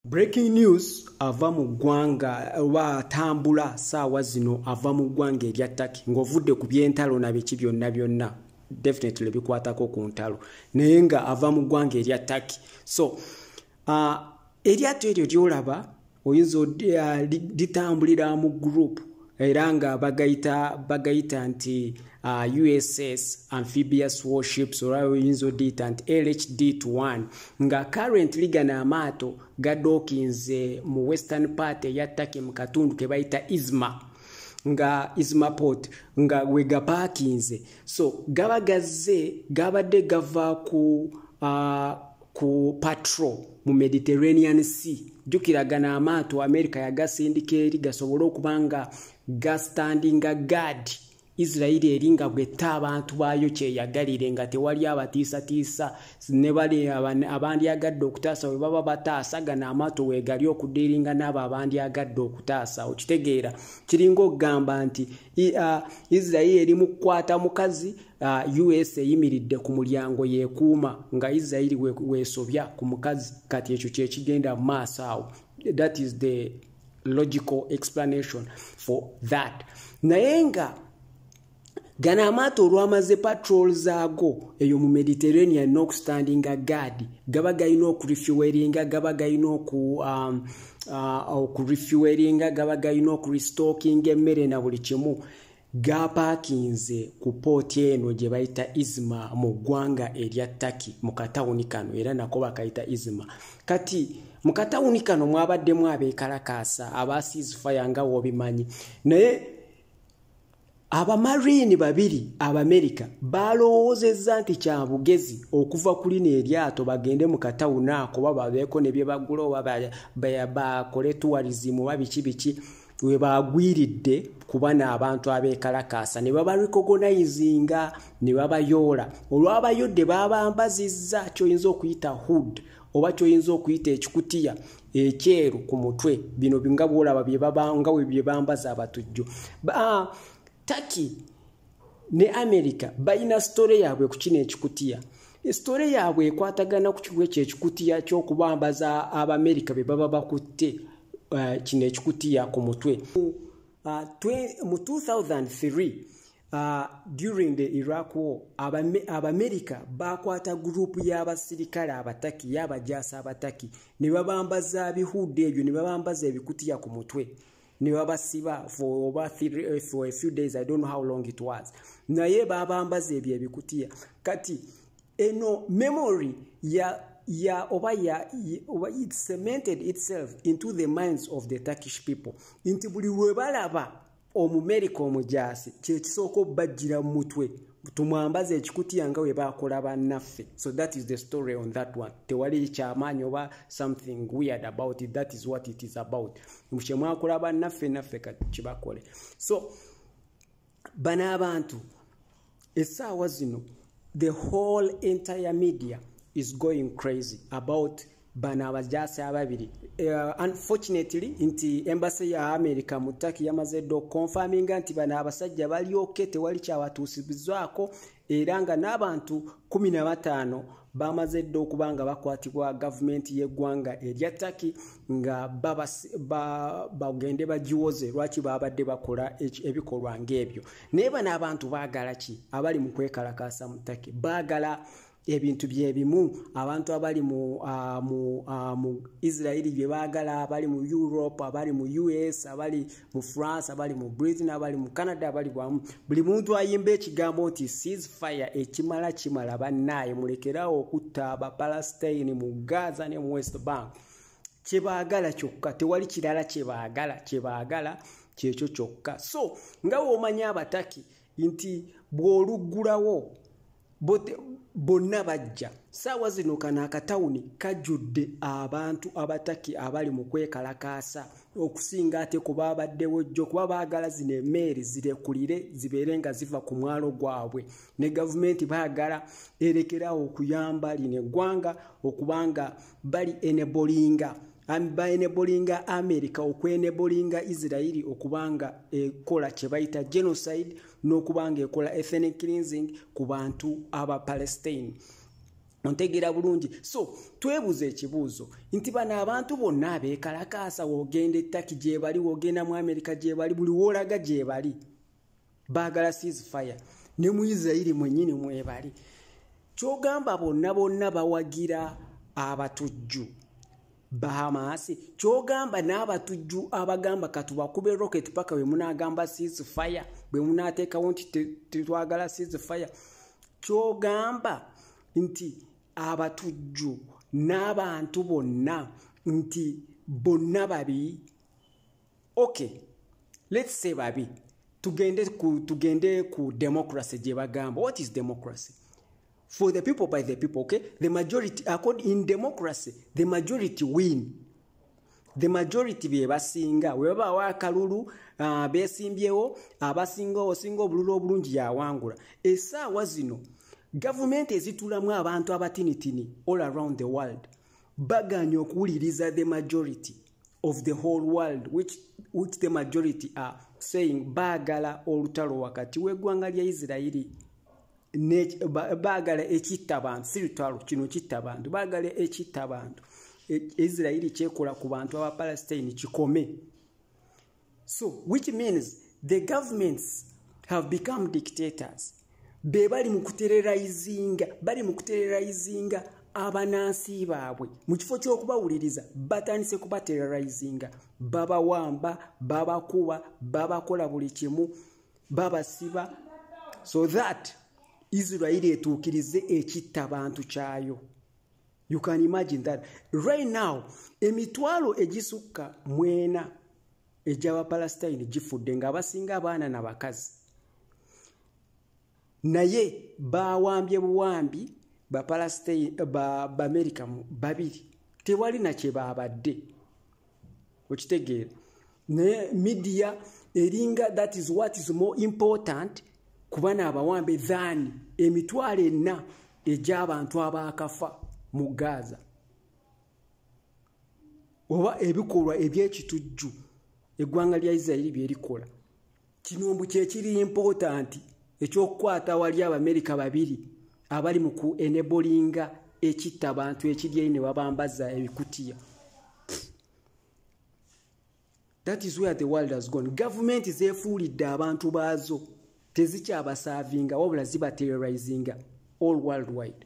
Breaking news ava mu ggwanga oba atambula saawa zino ava mu ggwanga erya Turkey ng'ovudde ku by'entalo na biki byonna byonna definitely bikwatako ku ntalo naye nga ava mu ggwanga erya Turkey so uh, eryato eryo lyolaba oyinza uh, litambulira mu group era nga bagayita bagayita nti uh, uss amphibious warships olwa oyinza odiyita nti lhd to 1 nga currently gano amaato gadokinze mu western part eya turkey mu katundu ke bayita isma nga isma port nga wegapakinze so gaba gazze gabadde gava ku uh, ku patrol mu mediterranean sea jukiragana amaato america yagasindika eri gasobole okuba nga gastandinga gad isirairi eri nga bwetta abantu baayo kyeyagalire nga tewali abatiisatiisa ne bali abandyagadde okutaasa bwe baba bataasa gana amaato weegali okudiiringa n'abo abandyagadde okutaasa okitegeera kiringa okugamba nti uh, israeli eri mu kukwata mukazi uh, us eyimiridde ku mulyango yekuuma nga israeli wesobya we ku mukazi kati ekyo kyekigenda mu maaso awo that is the logical explanation for that naye nga gano amaato olwamaze patrol zaago eyo mu mediterranean n'okustandinga gaadi gaba galina okurefuweringa gaba galina oku um, uh, okurefueringa gaba galina okurestockinga emmere na buli kimu gapaakinze ku pooti eno gye bayita izma mu ggwanga erya taki mu katawuni kano era nako bakayita izma kati mu katawuni kano mwabaddemu abeekalakaasa aba siizifaya nga wobimanyi naye abamariini babiri abamerika baalowoozezza nti kya bugezi okuva ku lino eryato bagende mu katawuni ako oba babeeko ne bye bagula oba bakole tuwalizimu oba biki biki we baagwiridde kuba n'abantu abeekalakaasa ne babarikogonayizinga ne babayoola olwabayodde baabambazizza kyoyinza okuyita hood oba kyoyinza okuyita ekikutiya ekyeru ku mutwe bino nga bwolaba byebabanga we byebambaza abatujju ah, taki ne amerika balina sitore yaabwe ku kino ekikutiya sitore yaabwe ekwatagana ku kiwa ekyo ekikutiya ky'okubambaza abaamerika be baba bakutte eh, kino ekikutiya ku mutwe ah, mu 2003 Uh, during the iraq war abamerika bakwata gurupu y'abasirikale abataki y'abajaasi abataki ne babambaza bihuudde ebyo ne babambaza ebikutiya ku mutwe ne babasiba for over three, eh, for a few days i don't know how long it was naye babambaza ebyo ebikutiya kati eno memory ya ya oba ya oba it cemented itself into the minds of the turkish people nti buli lwe balaba omumerika omujaasi kyekisooka obbajjira mu mutwe tumwambaza ekikutiya nga webakola bannaffe so that is the story on that one tewali kyamaanyi oba something weird about it that is what it is about kyemwakola bannaffe naffe kati kibakole so bano abantu esaawa zino the whole entire media is going crazy about bano abajaasi ababiri uh, unfortunately nti embasi ya america mu taki yamaze dda okukonfaminga nti bano abasajja balyoke tewali kyabatuusibizwako era nga n'abantu 15 bamaze dda okuba nga bakwatibwa gavumenti y'eggwanga erya taki nga bagende ba, bagiwoze lwaki babadde bakola ebikolwa ng'ebyo naye bano abantu baagala ki abali mu kwekalakaasa mu take baagala ebintu byebimu abantu abali mu uh, mu uh, mu israeli bye baagala abali mu europe abali mu us abali mu france abali mu britain abali mu canada abali bwamu buli muntu ayimba ekigambo nti seas fire ekimala kimala bannaaye mulekerawo okutta abapalestine mu gaza ne mu west bank kyebaagala kyokka tewali kirala kyebaagala kyebaagala kyekyo kyokka so nga womanya abataki nti bwoluggulawo bonna bajja saawa zino kano akatawuni kajjudde abantu abataki abali mu kwekalakaasa okusinga ate ku baabaddewo jjo kuba baagala zino emeeri zirekulire zibeere nga ziva ku mwalo gwabwe ne gavumenti baagala erekerawo okuyamba lino eggwanga okubanga bali enebolinga baenebolinga america okwenebolinga israeli okubanga ekola kyebayita genocide n'okubanga ekola ethenic cleansing ku bantu aba palestine ontegeera bulungi so twebuza ekibuuzo nti bano abantu bonna abeekalakaasa wogenda ettaki gyebali wogenda mu amerika gyebali buli woolaga gyebali baagala seas fire ne mu isirairi mwenyini mwebali kyogamba bonna bonna bawagira abatujju bahamasi kyogamba n'abatujju abagamba katubakube rocket paka bwe munagamba seas fire bwe munateekawo nti tetwagala seas fire kyogamba nti abatujju n'abantu bonna nti bonna babi okay let's say babi tugende ku tugende ku democracy gye bagamba what is democracy for the people by the people okay the majority according in democracy the majority win the majority bye basinga we baba wa kalulu uh, besimbyewo abasinga osinga obululu obulungi yawangula esa wazino government ezitulamu abantu abatinitini all around the world baganya okuwuliriza the majority of the whole world which, which the majority are saying baagala olutalo wakati w'eggwanga lya isirairi baagala ekitta bantu si lutalo kino kitta bantu baagala ekitta bantu e, isirairi kyekola ku bantu abapalestine kikome so which means the governments have become dictators be bali mu kutererayizinga bali mu kutererayizinga abanansi baabwe mu kifo ky'okubawuliriza batandise kubatererayizinga babawamba babakuba babakola buli kimu babasiba so that isirairi etuukirize ekitta bantu kyayo you can imagine that right now emitwalo egisukka mwena egy'abapalestine gifudde ng'abasinga abaana na bakazi naye bawambye buwambi bapalestine baamerika ba babiri tewali nakye baabadde okitegeera naye midiya eringa that is what is more important kuba naabawambe than emitwalo enna egy'abantu abaakafa mu gaaza oba ebikolwa eby'ekitujju eggwanga lya isirairi bye likola kino mbu kyekiri important ekyokukwata wali abamerika babiri abali mu ku enebolinga ekitta abantu ekiryeyi ne babambaza ebikutiya that is where the world has gone gavumenti zefuulidde abantu baazo tezikyabasaavinga wabula zibaterrorizinga all world wide